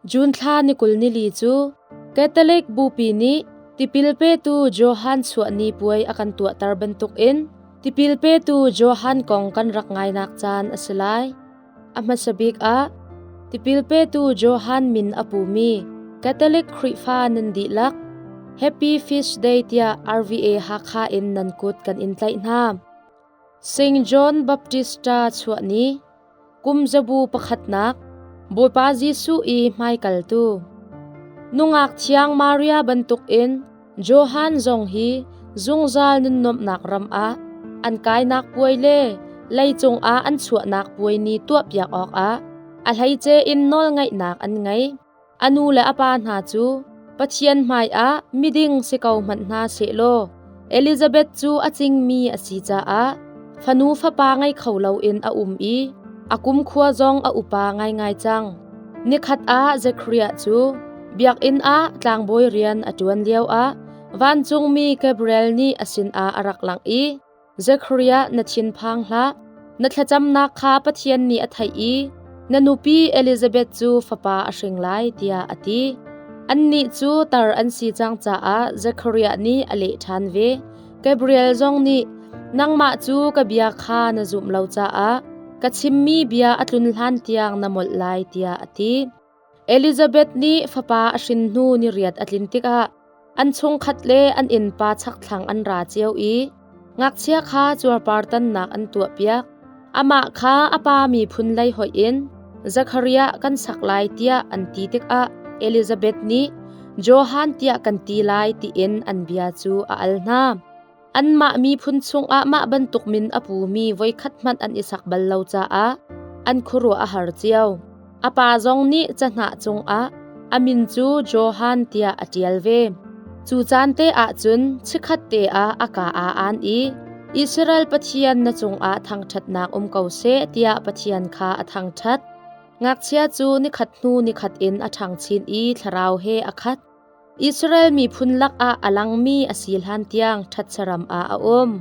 June thla ni kul nili cu Catholic bupi nih tipil petu Johan chuahni puai a kan tuahter bantuk in tipil petu Johan kong kan rak ngainak caan a si lai. A hmasa bik ah tipil petu Johan min a pumi Catholic Khrihfa nan dihlak Happy Feast Day tiah RVA Hakha in nan kut kan in tlaih hna. St. John Baptista chuahni Kumzabu pakhatnak Bawipa Jesuh i hmaikaltu Nungak thiang Maria bantukin Johan zong hi zungzal nunnuamhnak ram ah an kainak puai le leicung ah an chuahnak puai ni tuahpiak awkah a hleice in nawlngaihnak an ngei. A nu le a pa hna cu Pathian hmaiah miding si ko hmanh hna sehlaw Elizabeth cu a cingmi a si caah fanu fapa ngei kho loin a um i a kumkhua zong a upa ngaingai cang. Nikhat ah Zekhariah cu biakinn ah tlangbawi rian a ṭuan lioah vancungmi Gabriel nih a sinah a rak langh i, Zekhariah na thinphang hlah. Na thlacamnak kha Pathian nih a theih i na nupi Elizabeth cu fapa a hring lai tiah a ti. Annih cu tar an si cang caah Zekhariah nih a leh ṭhan ve. Gabriel zong nih nangmah cu ka bia kha na zumh lo caah ka chimmi bia a tlun hlan tiang na molh lai tiah a ti. Elizabeth nih fapa a hrin hnu ni riat a tlin tikah an chungkhat le an innpa chakthlang an ra cio i ngakchia kha cuarpartannak an tuahpiak. Amah kha a pa miphun lei hoih in Zakharia kan sak lai tiah an ti tikah Elizabeth nih Johan tiah kan ti lai tiin an bia cu a al hna. Anmah miphun chungah mah bantukin a pumi voikhat hmanh an i sak bal lo caah an khuaruah a har cio. A pa zong nih cahnah cungah a min cu Johan tiah a ṭial ve. Cu caan te ahcun chikhat te ah a kaa aa aan i Israel Pathian na cungah thangṭhatnak um ko seh tiah Pathian kha a thangṭhat. Ngakchia cu nikhat hnu nikhat in a ṭhang chin i thlarau he a khat. Israel miphun lakah a langmi a si hlantiang ṭhat saram ah a um.